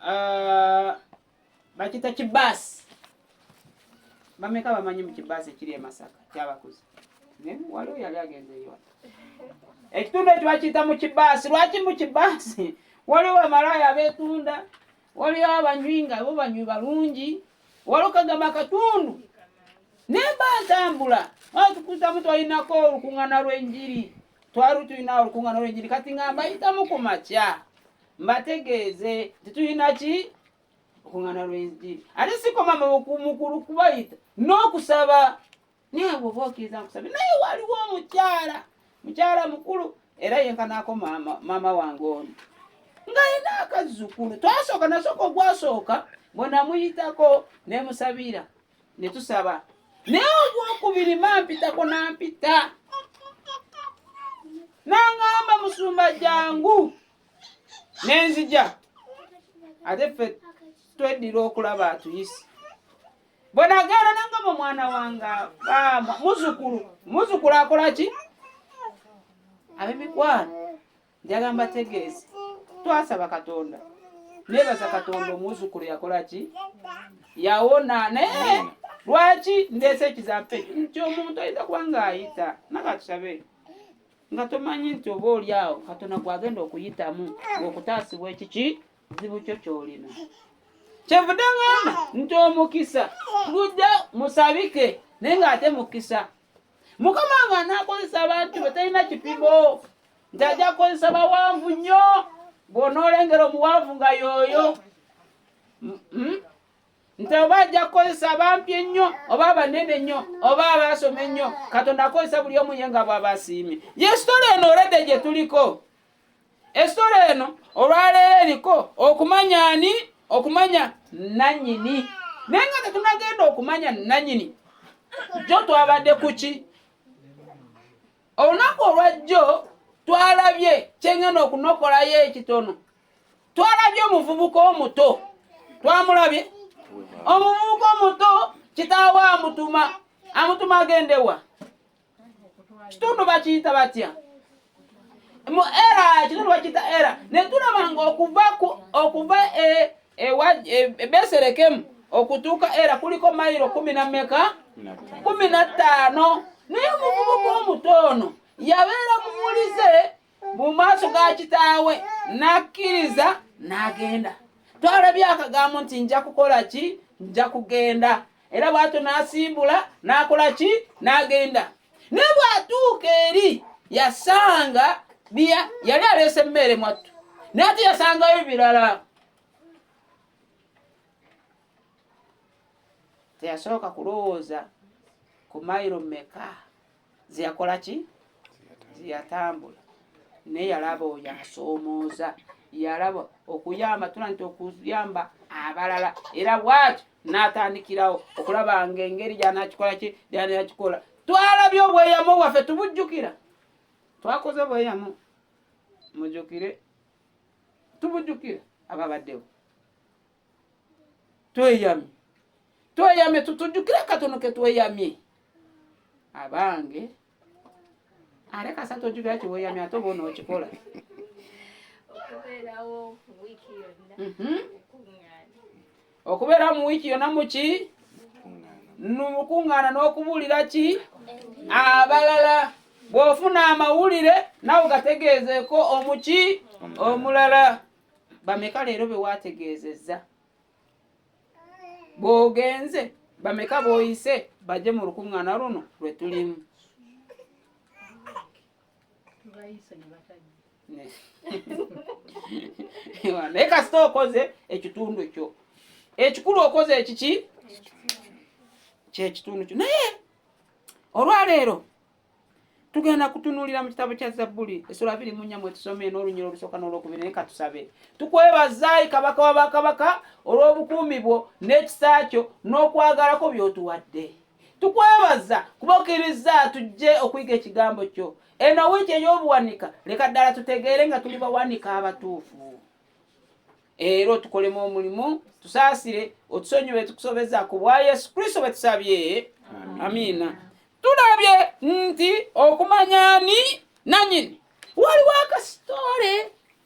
uh, bakita kibaasi bameka bamanyi mu kibaasi ekiri e masaka kyabakuza naye waliwo yali agenze yona ekitundu ekyo bakiyita mu kibaasi lwaki mu kibaasi waliwo bamalaaya abeetunda waliwo abanywi nga bo banywi balungi waliwo kagamba akatundu naye mba ntambula atukuzamu twalinako olukuŋŋana lw'enjiri twali tulina olukuŋŋaana olw'enjiri kati nga mbayitamu ku makya mbategeeze nti tulina ki okuŋŋaana lw'enjiri ate sikoma mukulu kubayita n'okusaba naye bwoba okkiriza nkusabye naye waliwo omukyala mukyala mukulu era yenkanaako maama wange ono ng'alina akazzukulu twasooka nasooka ogwasooka bwenamuyitako nemusabira ne tusaba naye ogwokubiri mampitako nampita nangamba musumba jangu nenzija ate ffe tweddira okulaba atuyise bwenagenda nangamba omwana wange muzukulu muzukulu akola ki abemikwano njagala mbategeeze twasaba katonda nebaza katonda omuzukulu yakola ki yawona naye lwaki ndeese ekizampe nti omuntu ayinza kuba ngaayita nakatusabe nga tomanyi nti oba oli awo katonda gwagenda okuyitamu okutaasibwa ekiki zibu kyo kyolina kyevude ngamba nti omukisa gujja musabike naye ngaate mukisa mukama nga nakozesa abantu betalina kipibo nti ajja kukozesa bawanvu nnyo bw'onoolengera omuwanvu nga yooyo hmm? nti oba ajja kukozesa abampi ennyo oba abanene nnyo oba abaasoma ennyo katonda akozesa buli omu ye nga bw'aba asiimye yesitola eno oledde gye tuliko esitola eno olwaleero eriko okumanya ani okumanya nanyini naye nga tetunagenda okumanya nanyini jo twabadde kuki olunaku olwajjo twalabye kyengenda okunokolayo ekitono twalabye omuvubuka omuto twamulabye omuvubuka omuto kitaawe amutuma amutuma agendewa kitundu bakiyita batya mu era kitundu bakiyita era netulaba nga okuva okuva e, ebeserekemu e, e okutuuka era kuliko mayiro kumi na meka kumi na ttaano naye omuvubuka omuto ono yabeera muwulize mu maaso ga kitaawe n'akkiriza n'agenda twalabye akagambo nti nja kukola ki nja kugenda era bwatyo n'asimbula n'akola ki n'agenda naye bw'atuuka eri yasanga yali aleese emmere mwattu naye ate yasangayo ebirala teyasooka kulowooza ku mayiro meka zeyakola ki zeyatambula naye yalaba oyo asoomooza yalaba okuyamba tula nti okuyamba abalala era bwatyo n'atandikirawo okulaba nga engeri gyanakikola ki gyanakikola twalabye obweyamo bwaffe tubujjukira twakoze obweyamo mujukire tubujjukira ababaddewo tweyamye tweyamye tutujjukire akatono ke tweyamye abange are kasatu ojjukira kiweyamye ate oba onookikola okubeerawo wiiki yonna Mhm. okubeera mu wiiki yona muki numukuŋŋaana n'okubuulira ki abalala bw'ofuna amawulire nawe gategeezeeko omuki omulala bameka leero be waategeezezza bw'ogenze bameka b'oyise bajje mu lukuŋŋaana luno lwe tulimu naye kasita okoze ekitundu kyo ekikulu okoze ekiki kyekitundu kyo naye olwaleero tugenda kutunuulira mu kitabo kya zabbuli esula abiri mu nnya mwetusome n'olunyira olusooka n'olwokubiri naye katusabe tukwebazaayi kabaka wa bakabaka olw'obukuumi bwo n'ekisa kyo n'okwagalako by'otuwadde tukwebaza kuba okkirizza tujje okuyiga ekigambo kyo eno wiiki ey'obuwanika leka ddala tutegeere nga tuli bawanika abatuufu era otukolemu omulimu tusaasire otusonyiwe tukusobeza ku bwa yesu kristo bwe tusabye amiina tulabye nti okumanya ni nanyini waliwo akasitole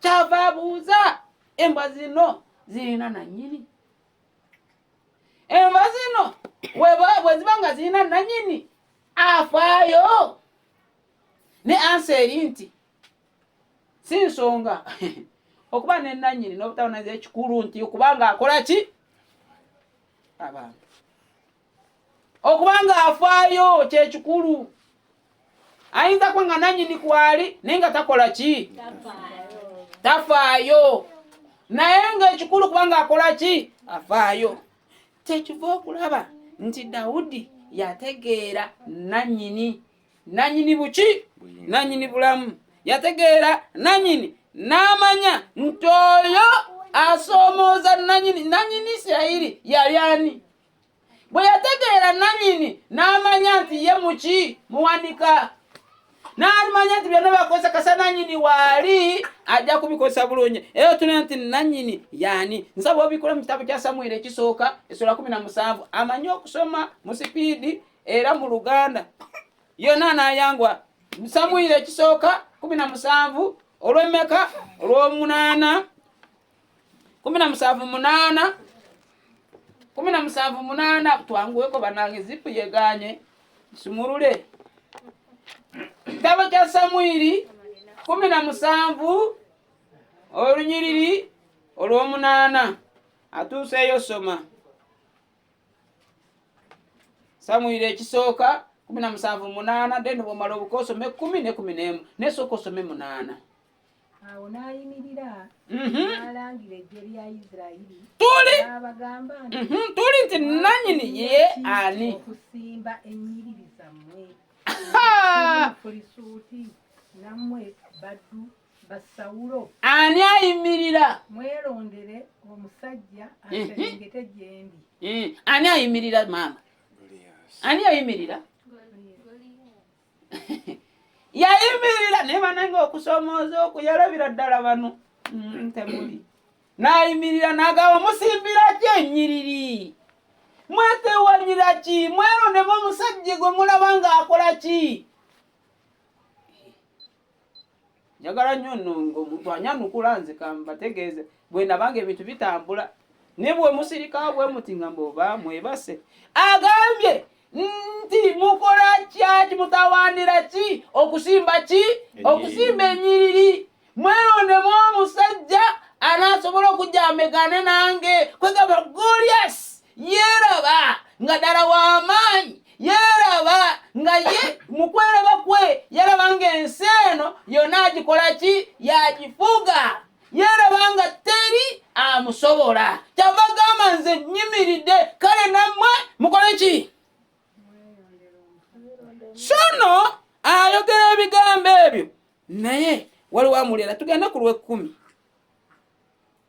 kyava abuuza embwa zino zirina nanyini embwa zino bweziba nga zirina nanyini afaayo ne ansa eri nti si nsonga okuba nenanyini n'obutabonaza ekikulu nti okubanga akola ki abantu okuba nga afaayo kyekikulu ayinza kuba nga nanyini kwali naye nga takola ki tafaayo naye ngaekikulu kuba nga akola ki afaayo kyekiva okulaba nti dawudi yategeera nanyini nanyini buki nanyini bulamu yategeera nanyini n'amanya nti oyo asoomooza nanyini nanyini isirayiri yali ani bwe yategeera nanyini n'amanya nti ye muki muwanika n'alimanya nti byonna bakozesa kasa nanyini waali ajja kubikozesa bulungi era otuna nti nanyini yaani nsaba obikola mu kitabo kya samwiri ekisooka esola kumi na musanvu amanyi okusoma mu sipiidi era mu luganda yonna n'ayangwa samwiri ekisooka kumi na musanvu olw'emmeka olw'omunaana kumi na musanvu munaana kumi na musanvu munaana twanguweko banange zipu yeganye nsumulule kitabo kya samwiri kumi na musanvu olunyiriri olw'omunaana atuuseeyo soma samwiri ekisooka kumi na musanvu munaana deni bwomala obukosome kumi ne kumi nemu nesooka osome munaana awo n'ayimirira mhm. n'alangira eggye lya isirayiri tuli n'abagamba nti mhm, tuli nti nannyini ye ani okusimba ennyiriri zammwe pulisuuti nammwe baddu basawulo ani ayimirira mwerondere omusajja mhm. aserengete gyendi ani ayimirira maama ani ayimirira yayimirira naye banange okusomooza okuyalabira ddala bano mm, temuli nayimirira nagaba musimbira ki enyiriri mwetewanyira ki mweronemu omusajja gwe mulaba ng'akola ki njagala nnyo nno ng'omuntu anyanukula nze kambategeeze bwe nabanga ebintu bitambula ne bwe musirika bwe muti nga mboba mwebase agambye nti mukola kyaki mutawaanira ki okusimba ki okusimba enyiriri mwelondemu omusajja anaasobola okujja amegane nange kwegamba goliasi yeeraba nga ddala w'amaanyi yeeraba nga ye mu kweraba kwe yalaba ng'ensi eno yonna agikola ki yagifuga yeeraba nga teri amusobola kyava gamba nze nyimiridde kale nammwe mukole ki sono ayogera ebigambo ebyo naye waliwo amulera tugenda ku lw'ekkumi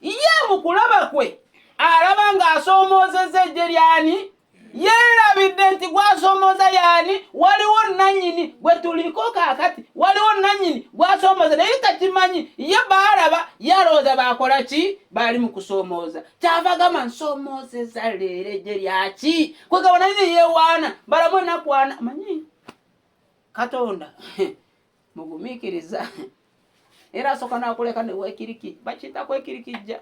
Ye mu kulaba kwe alaba ng'asoomoozezza eggye ly'ani? Yeerabidde nti gw'asoomooza y'ani? Waliwo nnannyini gwe tuliko kaakati, waliwo nnannyini gw'asoomooza naye takimanyi. Ye baalaba ye alowooza baakola ki? Baali mu kusoomooza. Kyava gamba nsoomoozezza leero eggye lyaki? Kwe gaba naye ne yeewaana, balamu ennaku ana. Manyi Katonda mugumiikiriza era asooka n'akuleka ne weekiriki bakiyita kwekirikijja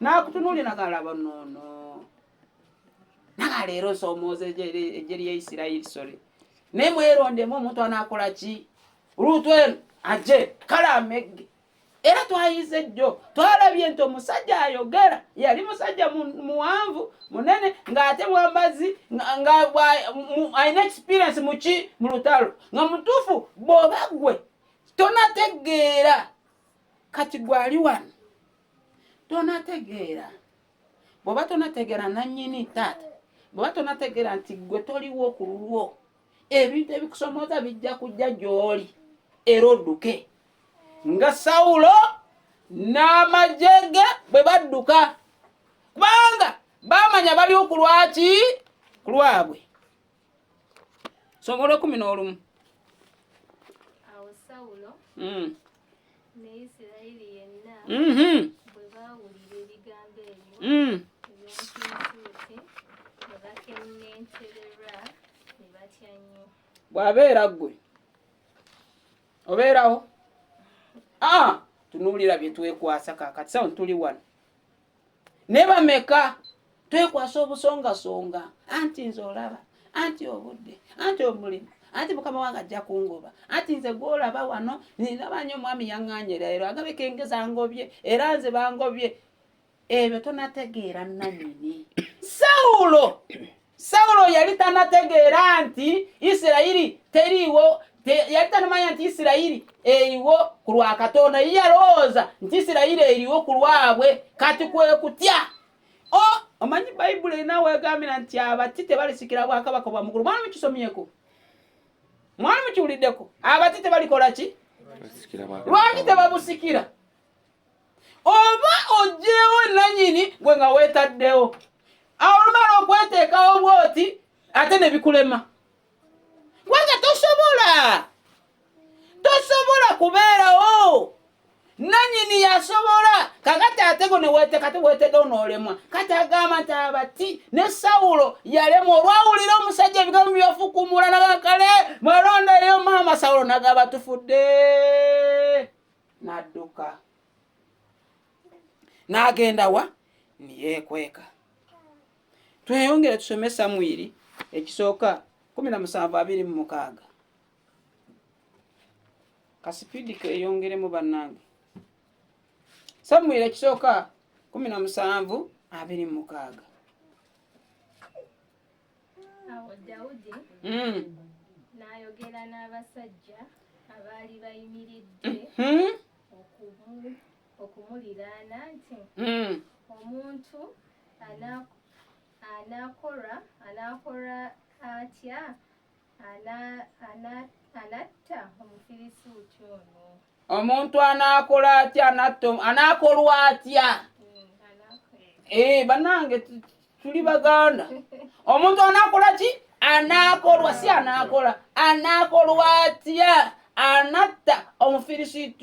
n'akutunuulira nagalaba noono naga leero nsoomooza ejje lya isirayiri sole naye mwerondemu omuntu anaakola ki luutwenu ajje kale amegge era twayize jjo twalabye nti omusajja ayogera yali musajja muwanvu munene ng'ate mwambazi alina experience muki mu lutalo nga mutuufu bw'oba gwe tonategeera kati gwali wano tonategeera bw'oba tonategeera nannyini taata bw'oba tonategeera nti gwe toliwo ku lulwo ebintu ebikusomooza bijja kujja gy'oli era odduke nga sawulo n'amagye ge bwe badduka kubanga baamanya bali okulwaki ku lwabwe somo lwekumi n'olumu awo sawulo mm. Mm-hmm. Mm. bw'abeera ggwe obeerawo ah, tunuulira bye twekwasa kaakati sawo tuli wano ne bameka twekwasa obusongasonga anti nze olaba anti obudde anti omulimu anti mukama wange ajja kungoba anti nze gwolaba wano ninaba nyo omwami yaŋŋanyera ero agabika engeza ngobye era nze bangobye ebyo tonategeera nanyini sawulo sawulo yali tanategeera nti isirayiri teriiwo yali tanamanya nti isirayiri eriwo ku lwa katonda ye yalowooza nti isirayiri eriwo ku lwabwe kati kwe kutya o omanyi bayibuli erina wegambira nti abati tebalisikira bwakabaka bwa mugulu mwali mukisomyeko mwali mukiwuliddeko abati tebalikola ki lwaki tebabusikira oba ojjeewo nanyini gwe nga weetaddewo awo olumala okweteekawo bwoti ate ne bikulema kubanga tosobola tosobola kubeerawo nanyini yasobola kakati ate go neweteeka teweetedde onoolemwa kati agamba nti abati ne sawulo yalemwa olwawulira omusajja ebigambo byafukumula nagakale mwalondayo maama sawulo nagaba tufudde n'adduka n'agenda wa niyeekweka tweyongere tusome samwiri ekisooka kumi na musanvu abiri mu mukaaga kasipidi keyongeremu bannange samwiri ekisooka kumi na musanvu abiri mu mukaaga Awo Dawudi mm. n'ayogera n'abasajja abaali bayimiridde mm-hmm. okumuliraana nti mm. omuntu anaakola anaakola atya anatta omufirisuuti ono omuntu anaakola atya anatto anaakolwa atya ee eh, banange tuli baganda omuntu anaakola ki anaakolwa si anaakola anaakolwa atya anatta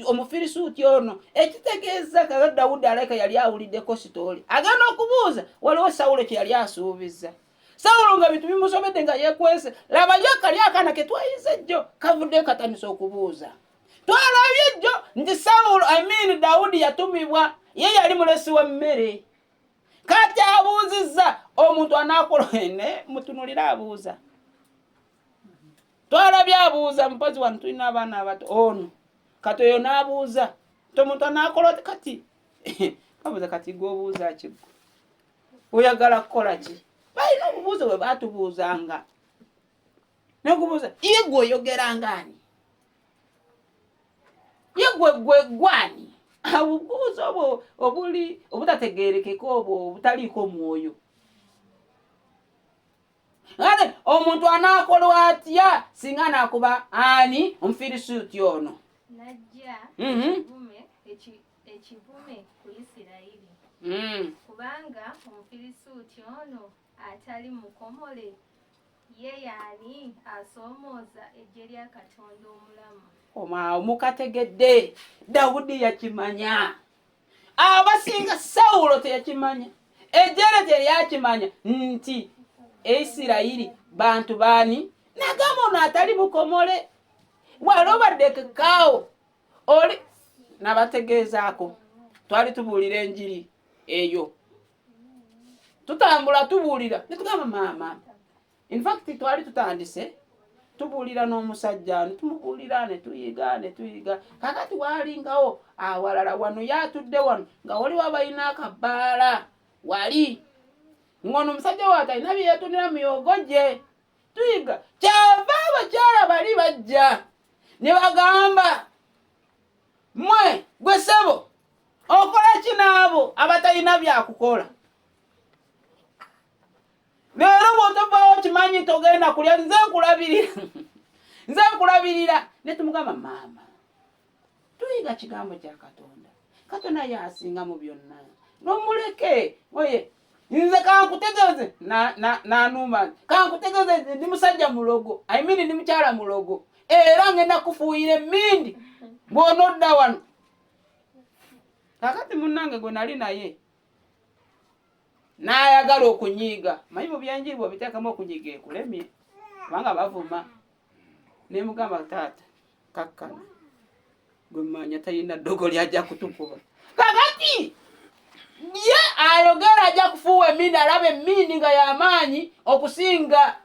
omufirisuuti ono ekitegeeza kaga dawudi alaika yali awuliddeko sitooli agenda okubuuza waliwo sawulo kye yali asuubiza sawulo nga bintu bimusobedde nga yekwese labayo kali akana ketwayize jjo kavudde katanisa okubuuza twalabye jjo nti sawulo amiini dawudi yatumibwa ye yali mulesi w'emmere kati abuuzizza omuntu anaakola ne mutunulire abuuza twalabye abuuza mupozi wano tulina abaana abato ono kati oyo n'abuuza nti omuntu anaakola oti kati babuuza kati gwobuuza ki oyagala kukola ki balina obubuuzo bwe batubuuzanga nakubuuza ye gwe oyogera ngaani ye gwe gwe gwani obubuuza obwo obuli obutategerekeka obwo obutaliiko mwoyo ate omuntu anaakolwa atya singa anaakuba ani omufirisuuti ono najja mhm. ekivume ku isirayiri mm. kubanga omufirisuuti ono atali mukomole Ye y'ani asoomooza eggye lya Katonda omulamu? Omwawo mukategedde, Dawudi yakimanya. Abasinga Sawulo teyakimanya, eggye lye teryakimanya nti Isirayiri bantu baani? Nagamba ono atali mukomole, wali obadde kekaawo oli nabategeezaako twali tubuulira enjiri eyo tutambula tubuulira netugamba maama infact twali tutandise tubuulira n'omusajja netumubuulira netuyiga netuyiga kakati walingawo awalala wano yatudde wano nga waliwo abalina akabaala wali ngono omusajja wake alina byeyetunira muyogo gye tuyiga kyava abakyala bali bajja ne bagamba mwe gwe sebo okola ki n'abo abatalina byakukola leero bwotovawo kimanyi nti ogenda kulya nze nkulabirira nze nkulabirira ne tumugamba maama tuyiga kigambo kya katonda katonda yasinga mu byonna nomuleke oye nze kankutegeeze nanuuma kankutegeeze nze ndi musajja mulogo i mean ndi mukyala mulogo era ngenda kufuuyira emindi bwonodda wano kakati munange gwe nali naye nayagala okunyiiga manyi mu byenjiri bwobiteekamu okunyiiga ekulemye kubanga bavuma nemugamba taata kakkana gwe manya talina ddogo lyajja kutukuba kakati ye ayogera ajja kufuuwa emiini alaba emiini nga yamaanyi okusinga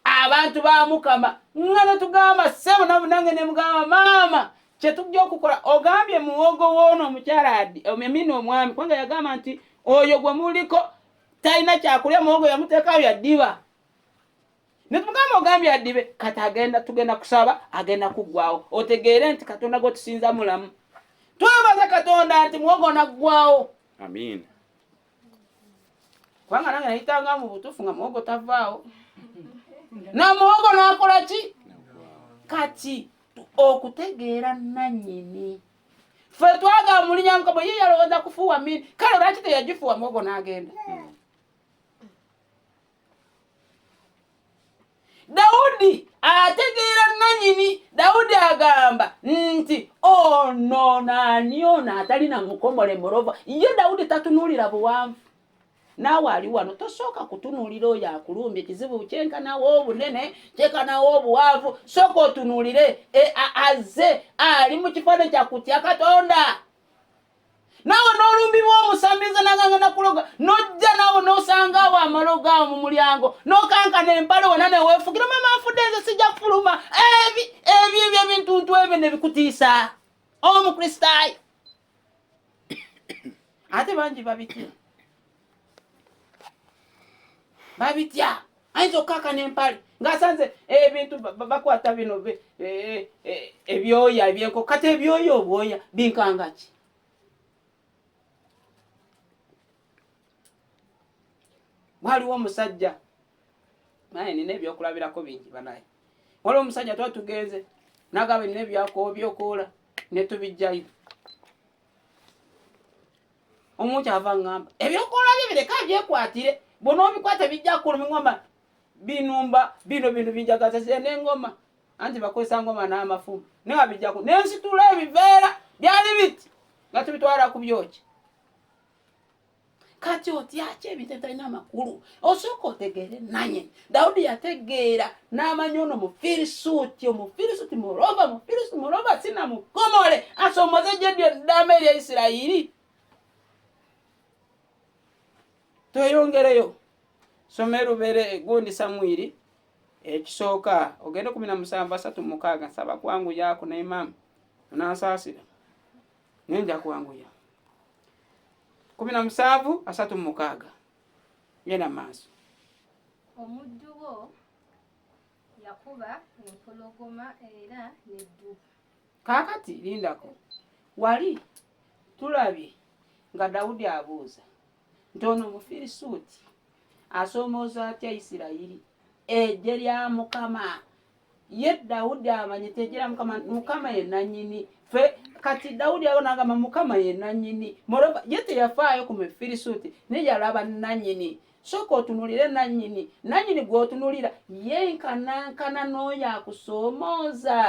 abantu ba mukama nga netugamba sebo nabu nange nemugamba maama kyetujja okukola ogambye muwogo woono omukyala emiini omwami kubanga yagamba nti oyo gwe muliko talina kyakulya muwogo yamuteekayo yaddiba netumugamba ogambye adibe kati agenda tugenda kusaba agenda kuggwawo otegeere nti katonda gwe tusinza mulamu twebaza katonda nti muwogo naggwawo amiina kubanga nange nayitanga mu butuufu nga muwogo tavaawo na muwogo nakola ki kati okutegeera nanyini fe twaga mulinya mukama ye yalowooza kufuuwa mini kale lwaki teyagifuuwa muwogo n'agenda Dawudi ategeera nanyini Dawudi agamba nti ono naani ono atali na mukomole mulova ye Dawudi tatunuulira buwanvu naawe ali wano tosooka kutunuulira oyo akulumbye kizibu kyenkanawo obunene kyenkanawo obuwanvu sooka otunuulire e, aze ali mu kifaananyi kyakutya katonda naawe n'olumbibwa omusamize naganga nakuloga nojja naawe n'osanga awo amalogo awo mu mulyango n'okankana empale wona neweefugira mama afudde nze sijja kufuluma ebi ebi ebyo ebintuntu ebyo nebikutiisa omukristaayo ate bangi babitya babitya ayinza okukaka nempale ngaasanze ebintu bakwata bino e, e, ebyoya ebyenko kati ebyoya obwoya binkangaki waliwo omusajja naye nina ebyokulabirako bingi banaye waliwo omusajja tuba tugenze nagaba nina ebyakowa byokoola netubijjayo omu kyava ngamba ebyokola bye bireka byekwatire bona obikwata bijja kuluma ngoma binumba bino bintu binjagaza ze nengoma anti bakozesa ngoma n'amafumu naye abijjaku nensitula ebiveera byali biti nga tubitwala ku byoki kati otyaki ebintu ebitalina amakulu osooka otegeere nanye dawudi yategeera n'amanya ono mufirisuuti omufirisuuti mulova mufirisuuti mulova sina mukomole asomoze gye lyo ddama erya isirayiri tweyongereyo soma erubeere egundi samwiri ekisooka ogende kumi na musanvu asatu mukaaga nsaba kwangu yaako naimamu onansaasira naye nja kwanguya kumi na musanvu asatu mu mukaaga genda mu maaso omuddu wo yakuba empologoma era neddubu kaakati lindako wali tulabye nga dawudi abuuza nti ono omufirisuuti asoomooza atya isirayiri eggye lya mukama ye Dawudi amanye tejera mukama mukama ye nanyini fe kati Dawudi yabona agamba mukama ye nanyini moroba ye teyafaayo ku Mefirisuuti ne yalaba nanyini soka otunulire nanyini nanyini gwotunulira ye nkanankana n'oyo akusoomooza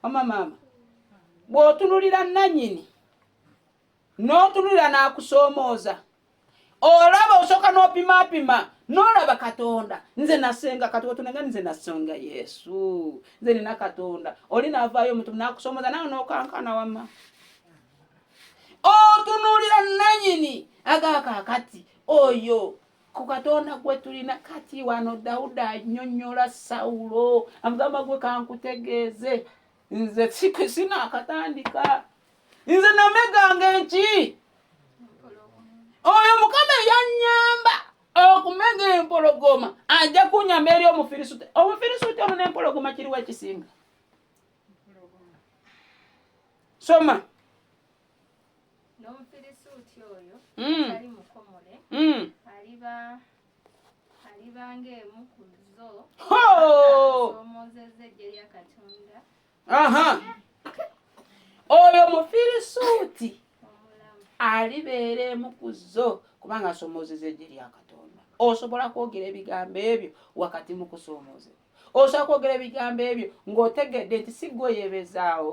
omamama bw'otunulira nanyini n'otunulira n'akusoomooza olaba osooka n'opimaapima n'olaba katonda nze nasenga kati otunenga nze nasenga yesu nze nina katonda oli naavaayo omutumu n'akusoomooza nawe n'okankana wama otunulira nanyini agakakati oyo ku katonda gwe tulina kati wano dawuda anyonyola sawulo amugamba gwe kankutegeeze nze sinaakatandika nze nameganga enki oyo mukama eyanyamba okumega empologoma ajja kunyamba eri omufirisuti omufirisuti ono nempologoma kiriwo ekisinga soma n'omufirisuuti oyo mm. atali mukomole mm. aliba oyo mufirisuuti alibeera emu ku zo kubanga asomoozeza eggye lya katonda osobola kwogera ebigambo ebyo wakati mu kusoomoozeza osobola kwogera ebigambo ebyo ng'otegedde nti si gwe oyebezaawo